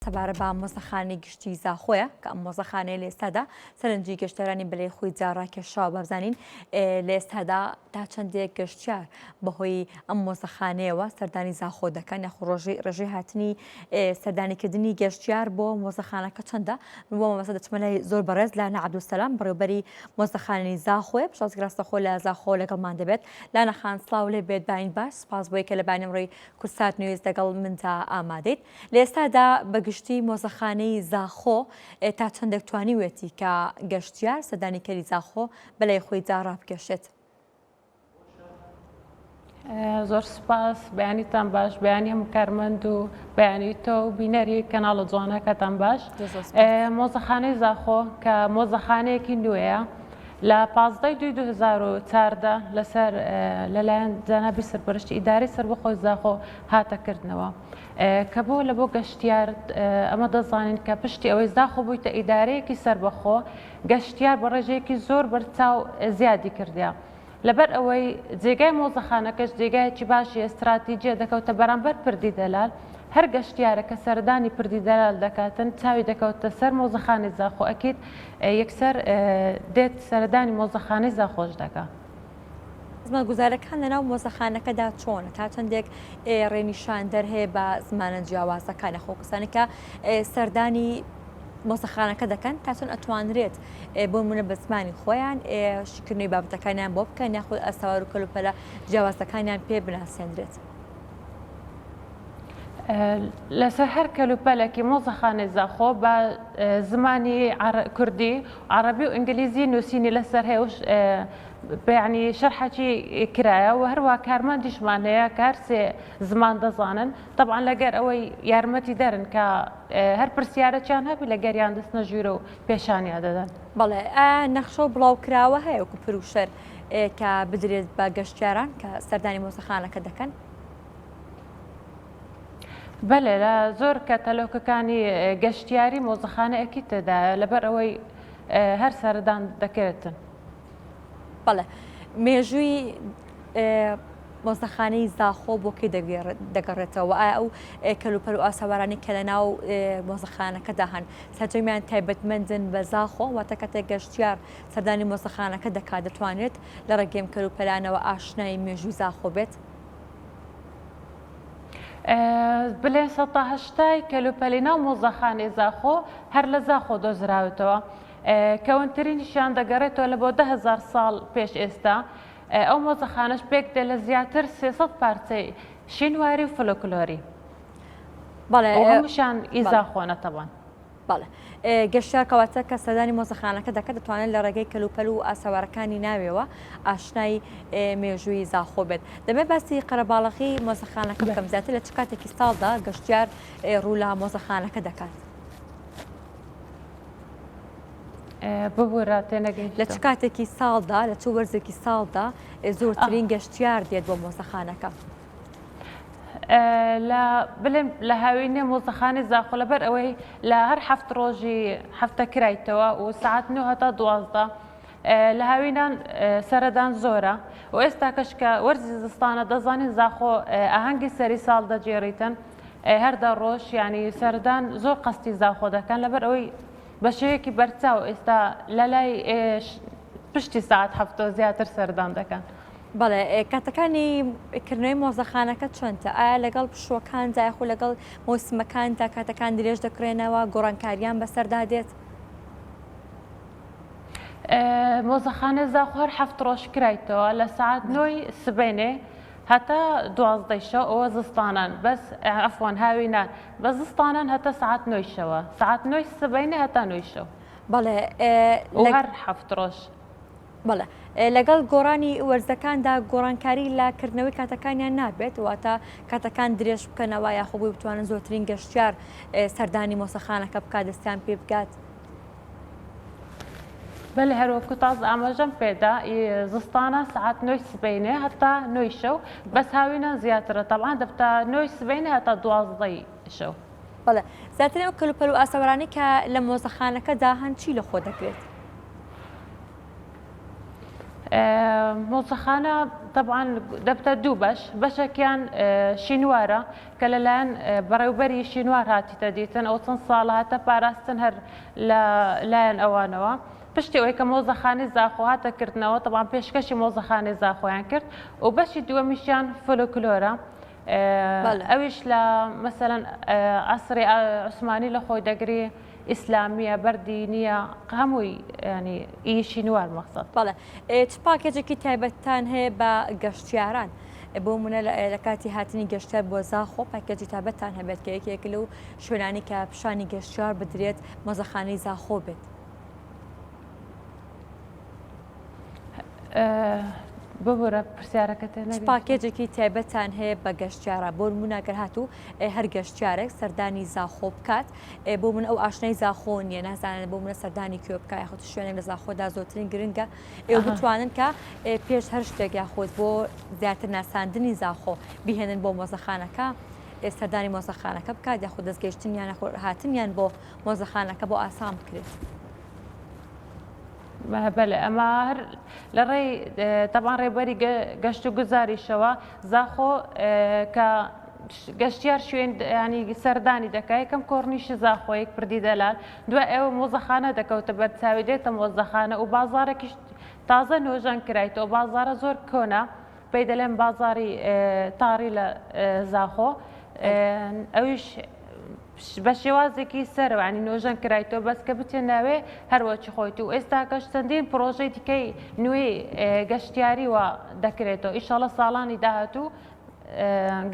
سەبارەت بە مۆزەخانەی گشتی زاخۆیە کە ئەم مۆزەخانەیە لە ئێستادا سەرنجی گەشتیارانی بەلێ خۆی جا ڕاکێشاوە بابزانین لە ئێستادا تا چەندێک گەشتیار بەهۆی ئەم مۆزەخانەیەوە سەردانی زاخۆ دەکەن یاخۆ ڕۆژی ڕێژەی هاتنی سەردانیکردنی گەشتیار بۆ مۆزەخانەکە چەندە بۆ مەسە دەچمە لای زۆر بەڕێز لا نەعبدوسەلام بڕێوبەری مۆزەخانی زاخۆی پشاز گراستە خۆ لە زاخۆ لەگەڵمان دەبێت لا نەخان سلااو لێ بێت باین باش سپاس بۆی کە لە بانەمڕی کورسات نوێز دەگەڵ مندا ئامادەیت لە ئێستادا بە گشتی مۆزەخانەی زاخۆ تا چەندێک توانیوێتی کە گەشتیار سەردانیکەری زاخۆ بەلای خۆیدا ڕابکێشێت؟ زۆر سپاس بەیانیتان باش بەیانی هەموو کارمەند و بەیانی تۆ و بینەری کەناڵە جوانەکەتان باش مۆزەخانەی زاخۆ کە مۆزەخانەیەکی نوێیە لە پازدەی دوی 2014 لەسەر لەلایەن جانابی سەرپەرشتی ئیداری سربەخۆی زاخۆ هاتەکردنەوە. کە بۆ لە بۆ گەشتیار ئەمە دەزانین کە پشتی ئەوەی زاخۆ بوویتە ئیدارەیەکی سەربەخۆ گەشتیار بە ڕێژەیەکی زۆر بەرچاو زیادی کردیە لەبەر ئەوەی جێگای مۆزەخانەکەش جێگایەکی باشی ئەستراتیجیە دەکەوتە بەرامبەر پردی دەلال هەر گەشتیارە کە سەردانی پردی دەلال دەکاتن چاوی دەکەوتە سەر مۆزەخانەی زاخۆ ئەکید یەکسەر دێت سەردانی مۆزەخانەی زاخۆش دەکا. خزمەتگوزارەکان لە ناو مۆزەخانەکەدا چۆنە تا چەندێک ڕێنیشاندەر هەیە بە زمانە جیاوازەکانە خۆ کەسانی کە سەردانی مۆزەخانەکە دەکەن تا چۆن ئەتوانرێت بۆ منە بە زمانی خۆیان شکردنی بابەتەکانیان بۆ بکەن یاخود ئەسەوار و کەلوپەلە جیاوازەکانیان پێ بناسێنرێت. لەسەر هەر کەلوپەلەکی مۆزەخانەی زاخۆ بە زمانی کوردی عربی و ئینگلیزی نووسینی لەسەر هەیە بەیانی شەرحەکی کرایە و هەروە کارمەندیشمان هەیە کارسێ زمان دەزانن طبعا لەگەر ئەوەی یارمەتی دەرن کە هەر پرسیارەکیان هەبی لە گەریان دەستنە ژوورە و پێشانیا دەدەن بەڵێ نەخشە و بڵاو کراوە هەیەکو پروشەر کە بدرێت بە گەشتیاران کە سەردانی مۆزەخانەکە دەکەن؟ بەێ لە زۆر کە تەلۆکەکانی گەشتیاری مۆزەخانە ئەکی تێدایە لەبەر ئەوەی هەر سەردان دەکرێتن بەڵێ مێژووی مۆزەخانەی زاخۆ بۆکەی دەگەڕێتەوە ئایا ئەو کەلوپەر و ئاسەوارانی کە لە ناو مۆزەخانەکەدا هەن سەرجەمیان تایبەتمەندن بە زاخۆ واتە کەتێک گەشتیار سەردانی مۆزەخانەکە دەکات، دەتوانرێت لە ڕێگەی ئەم کەلوپەلانەوە ئاشنای مێژووی زاخۆ بێت. بلێن سەد تا هەشتای کەلوپەلی ناو مۆزەخانەی زاخۆ هەر لە زاخۆ دۆزراوتەوە، کەونترینیشیان دەگەڕێتەوە لە بۆ دە هەزار ساڵ پێش ئێستا، ئەو مۆزەخانەش پێک دێ لە زیاتر سێ سەد پارچەی شینواری و فلۆکلۆری. بەڵێ. و هەمووشیان ئی زاخۆنە تەبەن. بەڵێ. گەشتیار کەواتە کە سەردانی مۆزەخانەکە دەکات دەتوانێت لە ڕێگەی کەلوپەل و ئاسەوارەکانی ناویەوە ئاشنای مێژووی زاخۆ بێت. دەبێت باسی قەرەباڵەغی مۆزەخانەکە بکەم زیاتر لە چ کاتێکی ساڵدا گەشتیار ڕوو لە مۆزەخانەکە دەکات. ببوورە تێنەگەی لە چ کاتێکی ساڵدا لە چ وەرزێکی ساڵدا زۆرترین گەشتیار دێت بۆ مۆزەخانەکە. لە بلێن لە هاوینێ مۆزەخانی زاخۆ لەبەر ئەوەی لە هەر هەفت ڕۆژی هەفتە کرایتەوە و سعات نو هەتا دوازدە لە هاوینان سەردان زۆرە و ئێستا کەشکە وەرزی زستانە دەزانین زاخۆ ئاهەنگی سەری ساڵ دەجێڕیتن هەردا ڕۆژ ینی سەردان زۆر قستی زاخۆ دەکەن لەبەر ئەوەی بە شێوەیەکی بەرچاو ئێستا لە لای پشتی سعات هەفتۆ زیاتر سەردان دەکەن. بەڵێ کاتەکانی کردنەوەی مۆزەخانەکە چۆنتە ئایا لەگەڵ پشوەکاندا یاخو لەگەڵ مۆسمەکاندا کاتەکان درێژ دەکرێنەوە گۆڕانکاریان بەسەردا دێت مۆزەخانە زاخو هەر هەفت ڕۆژ کرایتەوە لە سعات نۆی سبێنێ هەتا دوازدەی شەو ئەوە زستانان بەس ئەفوان هاوینان بە زستانان هەتا سعات نۆیشەوە سعات نۆی سبینێ هەتا نویشەوە بەڵێ هەر هەفت ڕۆژ بەڵێ لەگەڵ گۆڕانی وەرزەکاندا گۆڕانکاری لە کردنەوەی کاتەکانیان نابێت واتە کاتەکان درێژ بکەنەوە یاخۆبووی بتوانن زۆترین گەشتیار سەردانی مۆسەخانەکە بکات دەستیان پێ بگات. بەلێ هەروەکو تاز ئاماژەم پێدا زستانە سعات نۆی سبەینێ هەتا نۆی شەو بەس هاوینان زیاترە تەبعا دەبتە نۆی سبەینێ هەتا دوازدەی شەو بەڵێ زیاتر ئەو کەلوپەل و ئاسەوارانەی کە لە مۆزەخانەکەدا هەن چی لە خۆ دەگرێت؟ مۆزەخانە طبعاان دەبتە دوو بەش بەشێکیان شینوارە کە لەلایەن بەڕێوبەری شینوار هاتیتە دیتن ئەو چەند ساڵ هاتە پاراستن هەر لە لایەن ئەوانەوە. پشتی ئەوەی کە مۆزەخانی زاخۆ هاتە کردنەوە تەبان پێشکەشی مۆزەخانی زاخۆیان کرد و بەشی دووەمیشیان فلوکلۆرە ئەویش لە مەسەلەن عەسری عوسمانی لە خۆی دەگری ئیسلامیە بەردی نییە هەمووی ینی ئیشی نوار مەخسەد بەڵێ چ پاکێجێکی تایبەتتان هەیە بە گەشتیاران بۆ منە لە کاتی هاتنی گەشتار بۆ زاخۆ پاکێجی تابەتتان هەبێت کە یەکێک لەو شوێنانی کە پیشانی گەشتیار بدرێت مەزەخانەی زاخۆ بێت. ببورە پرسیارەکەت پاکێجێکی تایبەتان هەیە بە گەشتیارە بۆ مناگەر هاتوو هەر گەشتارێک سەردانی زاخۆ بکات بۆ من ئەو ئاشنای زاخۆ نیە نازانێت بۆ منە سەردانی کوێ بکە یاخود شوێنێک لە زاخۆدا زۆترین گرنگە ئێ بتوانن کە پێش هەر شتێک یاخود بۆ زیاتر ناساندنی زاخۆ بهێنن بۆ مۆزەخانەکە. سەردانی مۆزەخانەکە بکات یاخود دەستگەشتنیان هاتنیان بۆ مۆزەخانەکە بۆ ئاسان بکرێت. بەلێ ئەمە هەر لە ڕێی تەبان ڕێبەری گەشت و گوزاریشەوە زاخۆ کە گەشتیار شوێن ینی سەردانی دەکە یەکەم کۆرنیشی زاخۆیەک پردی دەلال دو ئێوە مۆزەخانە دەکەوتە بەر چاوی دێتە مۆزەخانە و بازارێکیش تازە نۆژەن کرایتەوە بازارە زۆر کۆنا پێی دەلێن بازاری تاڕی لە زاخۆ ئەویش بە شێوازێکی سەرانی نۆژەن کرایتەوە بەس کە بچێ ناوێ هەروەچی خۆیت و ئێستا کەش چەندین پرۆژەی دیکەی نوێی گەشتیاری و دەکرێتەوە ئیشەڵە ساڵانی داهاتوو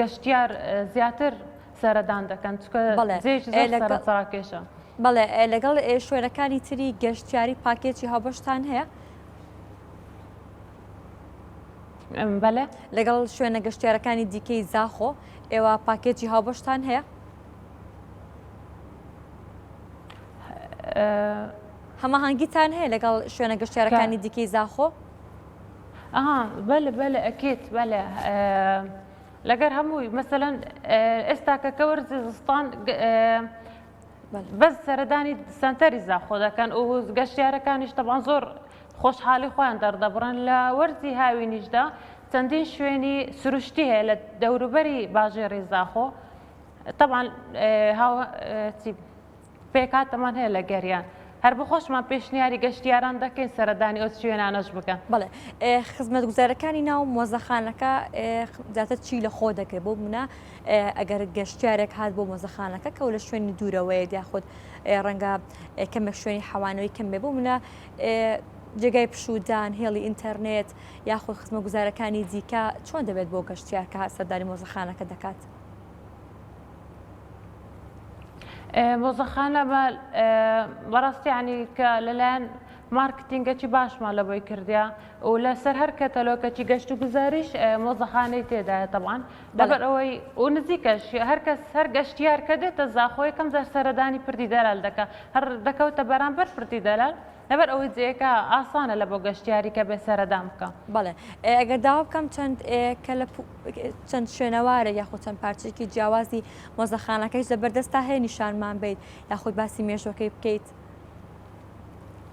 گەشتیار زیاتر سەردان دەکەن چکە بەڵێکێشە بەڵێ لەگەڵ شوێنەکانی تری گەشتیاری پاکێکی هاوبەشتان هەیە بەلێ لەگەڵ شوێنە گەشتیارەکانی دیکەی زاخۆ ئێوە پاکێجی هاوبەشتان هەیە هەماهنگگیتان هەیە لەگەڵ شوێنە گەشتیارەکانی دیکەی زاخۆ ئەها بەلە بەلە ئەکێت بەلە لەگەر هەمووی مەسەەن ئێستاکە کەوەرزی زستان بەس سەردانی سەنتەری زاخۆ دەکەن و گەشتیارەکانیش تەبان زۆر خۆشحالی خۆیان دەردەبڕن لە وەرزی هاوینیشدا چەندین شوێنی سروشتی هەیە لە دەوروبەری باژێڕی زاخۆ تەبان پێکاتەمان هەیە لە گەریان. هەر بە خۆشمان پێشنیاری گەشتیاران دەکەین سەردانی ئەو شوێنانەش بکەن بڵێ خزمەت گوزارەکانی ناو مۆزەخانەکە زیاتر چی لە خۆ دەکرێت بۆ منە ئەگەر گەشتیارێک هات بۆ مۆزەخانەکە کە لە شوێنی دوورەوەیە دیاخود ڕەنگە کەمێک شوێنی حەوانەوەی کەم بێ بۆ منە جێگای پشودان هێڵی ئینتەرنێت یاخود خزمە گوزارەکانی دیکە چۆن دەبێت بۆ گەشتیارکە سەرداری مۆزەخانەکە دەکات. مۆزەخانە بەڕاستیانی کە لەلایەن مارکتینگەکی باشمان لە بۆی کردیا و لەسەر هەر کەتەلۆکەکی گەشت و گوزاریش مۆزەخانەی تێدایە تەوان لەبەر ئەوەی و نزیکەش هەرکەس هەر گەشتیار کە دێتە زاخۆ یەکەم جار سەردانی پردی دەلال دەکا هەر دەکەوتە بەرامبەر پردی دەلال لەبەر ئەوەی جێیەکە ئاسانە لە بۆ گەشتیاری کە بێ سەردان بکە بەڵێ ئەگەر داوا بکەم چەند کە لە چەند شوێنەوارە یاخود چەند پارچێکی جیاوازی مۆزەخانەکەی زەبەردەستا هەیە نیشانمان بیت یاخود باسی مێژوەکەی بکەیت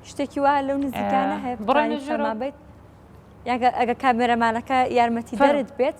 شتێکی وا لەو نزیکانە هەیە بڕێنەژمان بیت یاگە ئەگە کامێرەمانەکە یارمەتی دەرت بێت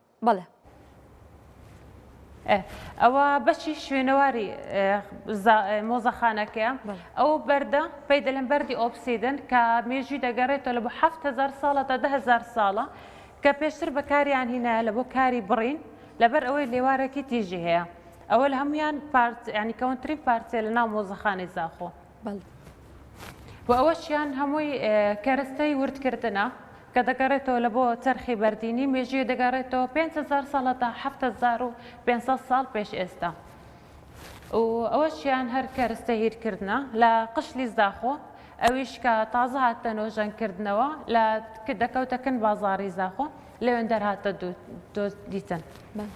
بەڵێ. ئێ ئەوە بەشی شوێنەواری مۆزەخانەکەیە ئەو بەردە پێی دەلێن بەردی ئۆپسیدن کە مێژوی دەگەڕێتەوە لە بۆ هزار ساڵە تا دههزار ساڵە کە پێشتر بەکاریان هینایە لە بۆ کاری بڕین لەبەر ئەوەی لێوارێکی تیژی هەیە ئەوە لە هەمویان پارت ینی کەونترین پارچێ لە ناو مۆزەخانەی زاخۆ. بەڵێ. و ئەوەشیان هەمووی کەرستەی وردکردنە کە دەگەڕێتەوە لە بۆ چەرخی بەردینی مێژوویە دەگەڕێتەوە پێنج هەزار ساڵ هەتا حەفت هەزار و پێنج سەد ساڵ پێش ئێستا و ئەوەشیان هەر کەرستە هیرکردنە لە قشلی زاخۆ ئەویش کە تازە هاتە نۆژەنکردنەوە لە دەکەوتە کن بازاڕی زاخۆ لەوێن دەرهاتە دۆ دیتن. بەڵێ.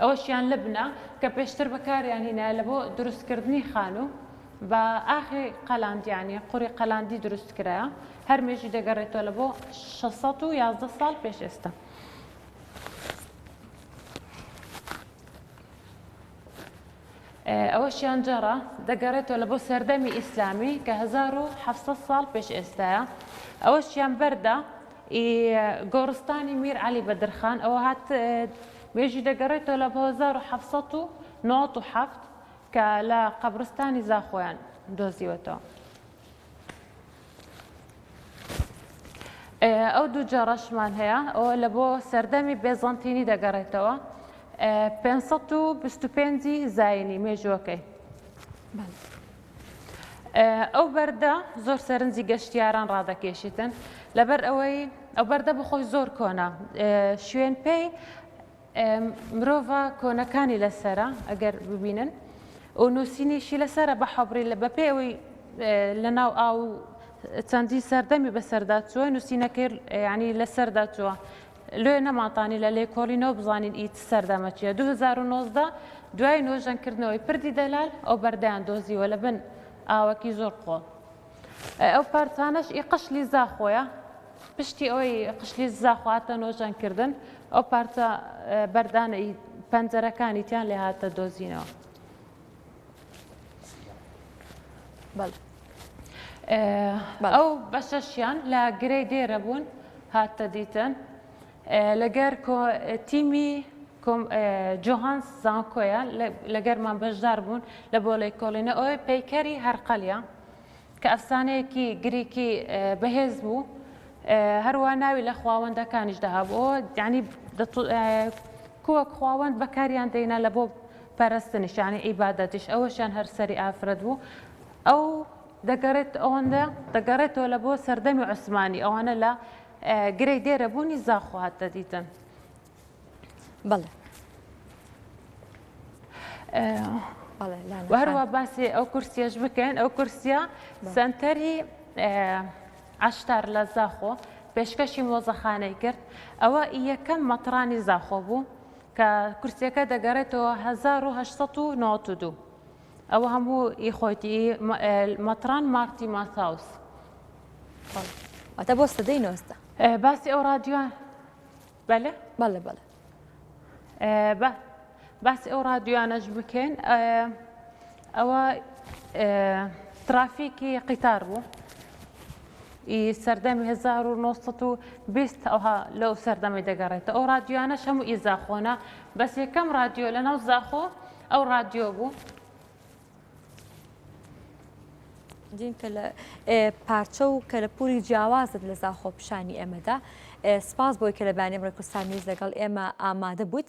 ئەوەشیان لەبنە کە پێشتر بەکاریان هینایە لە بۆ دروستکردنی خانوو بە ئاخی قەلاندیانی قوری قەلاندی دروست کرا هەر مێژی دەگەڕێتەوە لە بۆ 611 ساڵ پێش ئێستا. ئەوەشیان جەڕە، دەگەڕێتەوە لە بۆ سەردەمی ئیسلامی کە هەزار و حەفت سەد ساڵ پێش ئێستایە. ئەوەشیان بەردە ئی گۆڕستانی میر عەلی بەدرخان ئەوە هات مێژوی دەگەڕێتەوە لە بۆ هەزار و حەفت سەد و نەوەد و حەفت کە لە قەبرستانی زاخۆیان دۆزیوەتەوە. ئەو دوو جەڕەشمان هەیە ئەوە لە بۆ سەردەمی بێزەنتینی دەگەڕێتەوە 525 زینی مێژوەکەی ئەو بەردە زۆر سەرنجی گەشتیاران ڕادەکێشیتن لەبەر ئەوەی ئەو بەردە بخۆی زۆر کۆنا شوێن پێی مرۆڤە کۆنەکانی لەسەرە ئەگەر ببینن و نووسینیشی لەسرە بە حەبڕی لە بەپێ ئەوی لە ناو ئاو چەندین سەردەمی بەسەردا چووە نووسینەکەی ینی لەسەردا چووە لێ نەماتانی لە لێکۆڵینەوە بزانین ئیت سەردەمەچیە 2009 دوای نۆژەنکردنەوەی پردی دەلال ئەو بەردەیان دۆزیوە لە بن ئاوەکی زۆر قۆڵ ئەی ئەو پارچانەش ئی قشلی زاخۆیە؟ پشتی ئەوەی قشلی زاخۆ هاتە نۆژەن کردن، ئەو پارچە بەردانە ئی پەنجەرەکانی تیان لێ هاتە دۆزینەوە. بەڵێ. ئەو بەشەشیان لە گرەی دێرە بوون هاتە دیتن. لەگەر کۆ تیمی کۆم جۆهانس زانکۆیە لەگەرمان بەشدار بوون لە بۆ لەیکۆڵینە ئەوەی پەیکەری هەرقەلیە کە ئەفسانەیەکی گریکی بەهێز بوو هەروە ناوی لە خواوەندەکانیش دەهابەوە یعنی کووەک خواوەند بەکاریان دەینا لە بۆ پەرستنیش یعنی ئیبادەتیش ئەوەشیان هەر سەری ئافرەت بوو ئەو دەگەڕێت ئەوەندە دەگەڕێتەوە لە بۆ سەردەمی عوسمانی ئەوانە لە گرەی دێرە بوونی زاخۆ هات دەدیتن بەڵێ هەروە باسی ئەو کورسیەش بکەن ئەو کورسیە سنتەری عشتار لە زاخۆ پێشکەشی مۆزەخانەی کرد ئەوە یەکەم مەترانی زاخۆ بوو کە کورسیەکە دەگەڕێتەوە 1992 ئەوە هەموو ئی خۆیتی مەتران مارتی ماساوس واتە بۆ سەدەی نۆزدە باسی ئەو ڕادیۆ بەلێ بەڵێ بەڵێ بە باسی ئەو ڕادیوانەش بکەین ئەوە ترافیکی قیتار بوو سەردەمی 1920 ئەوها لەو سەردەمی دەگەڕێتە ئەو ڕادیوانە شەم و ئیزاخۆنە بەس یەکەم ڕادیۆ لە ناو زاخۆ ئەو ڕادیۆ بوو پارچە و کەلەپوری جیاوازت لە زاخۆپشانی ئێمەدا سپاس بۆی کە لە بانی ڕێکوسانیز لەگەڵ ئێمە ئامادە بوویت.